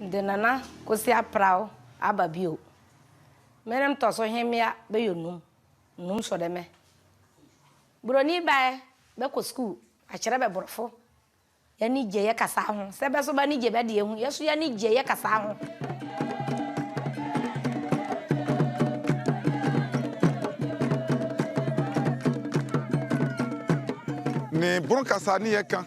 Mede Nana Kosi Apraw aba bio. Me ne mtɔso hemmea bɛyɔ num, num sɔ dɛ mɛ. Buroni ba ɛ bɛ kɔ sukuu akyerɛ bɛ borɔfo. Y'ani gye yɛ kasaa ho, sɛ bɛ so b'ani gye bɛ deɛ ho, yɛ so y'ani gye yɛ kasaa ho. Ne boro kasaa ne yɛ ka.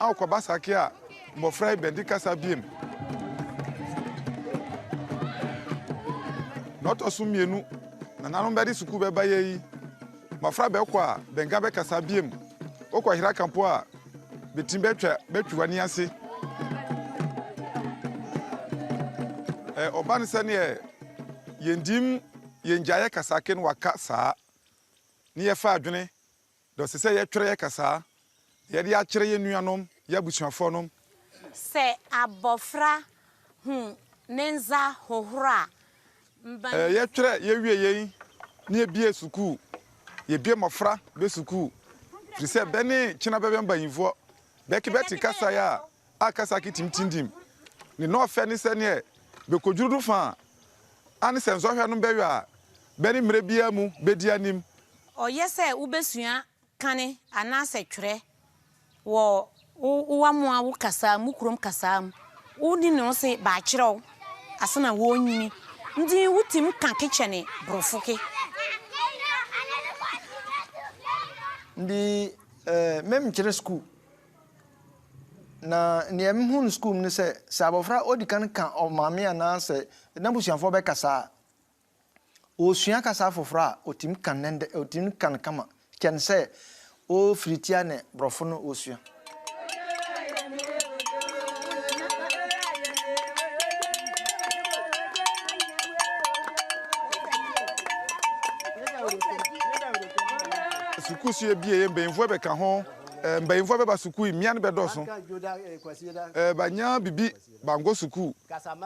Ao kɔ ba sake a mbofra yi bɛdze kasa bio mu. Na ɔtɔ so mienu, nananom bɛdze sukuu bɛba yɛ yi. Mbofra bɛkɔ a, bɛnnka bɛkasa bio mu. Wokɔ hera ka mpo a, betsim bɛtwa bɛtwe w'ani ase. Ɛ, ɔban sɛ neɛ yɛndim yɛngyaeɛ kasake no waka saa, ne yɛfa adwene Dɔ se sɛ yɛtwerɛ yɛ kasaa. Na yɛde akyerɛ yɛ nuanom, yɛ abusuafoɔ nom. Sɛ abɔfra hu ne nza hohoro a, mbanyin. Yɛtwerɛ yɛ wie yei ne yɛ bie sukuu. Yɛ bie mmɔfra bɛ sukuu. Firi sɛ bɛ ne kyena bɛbɛ mbanyifoɔ. Bɛ ke bɛ te kasaa a. a Kasaki tim tindim ne nɔɔfɛ ne sɛ neɛ bɛkɔdwuru do fã a ne sɛ nsɔhwɛ nom bɛyɔ a bɛne mmerɛ biara mu bɛdi anim. Ɔyɛ sɛ wobɛsua kane anaasɛ twerɛ wɔ wo wamoa wo kasaa mu, wo kurom kasaa mu. Wo ne no se bɛakyerɛ wo ase na wɔɔnyini nti wo tim ka ke kyɛne borɔfo ke. Ndi mem kyere sukuu. Na nea mehu no sukuu mu ne sɛ, sɛ abɔfra odi kan ka ɔmaame anaasɛ n'abusuafoɔ bɛkasa a, ɔresua kasa foforɔ a, ɔtumi ka no dɛ, ɔtumi ka no kama kyɛn sɛ ɔrefiri tia ne borɔfo no ɔresua. Sukuusu abien, mpanimfoɔ bɛka ho. Mbanyifoɔ bɛba sukuu yi, mbea no bɛdɔɔso. Bɛanya biribi bankɔ sukuu,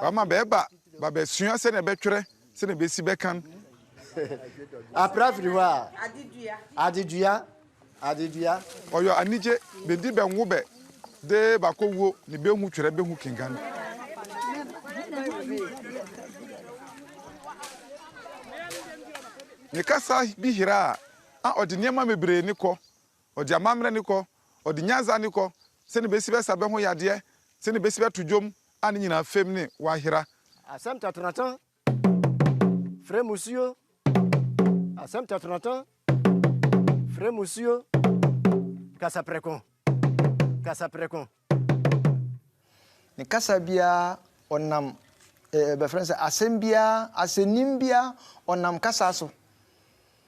wɔama bɛɛba babɛsua sɛdeɛ bɛtwerɛ, sɛdeɛ bɛsi bɛkan. Apra firi hɔ a, adedua, adedua. Ɔyɔ anigye, bɛdi bɛnwo bɛ de bakɔ wuo ne bɛhu twerɛ bɛhu kenkan. Ne kasa bi hira a, a ɔde nneɛma bebree ne kɔ. Ɔde amammerɛ ne kɔ, ɔde nyansa ne kɔ, sɛnea obesi bɛsa bɛ ho yadeɛ, sɛnea obesi bɛto dwom a ne nyinaa fam ne w'ahera. Asɛm tɔtɔnɔtɔn frɛ musuo, asɛm tɔtɔnɔtɔn frɛ musuo, kasa prɛko, kasa prɛko. Ne kasa biara ɔnam eh, bɛfrɛ sɛ asɛm biara, asɛnnim biara ɔnam kasa so.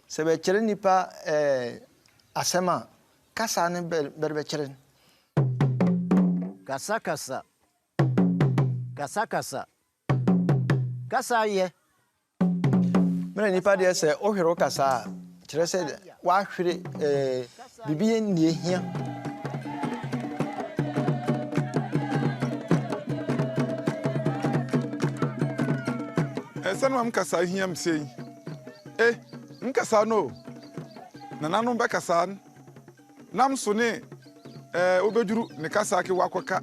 Sɛ bɛkyerɛ nipa eh, asɛm a, kasa no bɛde bɛkyerɛ no. Kasakasa, kasakasa, kasa yɛ. Me na nipa deɛ sɛ wohwere wo kasa a kyerɛ sɛ woahwere eh, biribi yɛ nnie hia. ɛsɛ no ma mkasa hia m sei eh mkasa no nananom bɛkasa Nam so ne eh, wobeduru ne kasa ke wakɔka.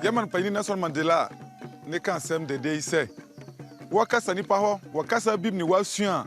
German panyin Nelson Mandela ne ka asɛm dɛdɛ yi sɛ, Wɔkasa nipa hɔ wɔ kasa bim ne wɔasua a,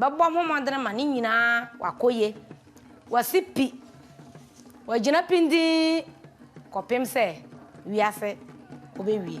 Bɛbɔ ho mmɔdene ma ne nyinaa wakɔ ye. Wasi pi, wagyina pindinn kɔpem sɛ wiase wobɛwie.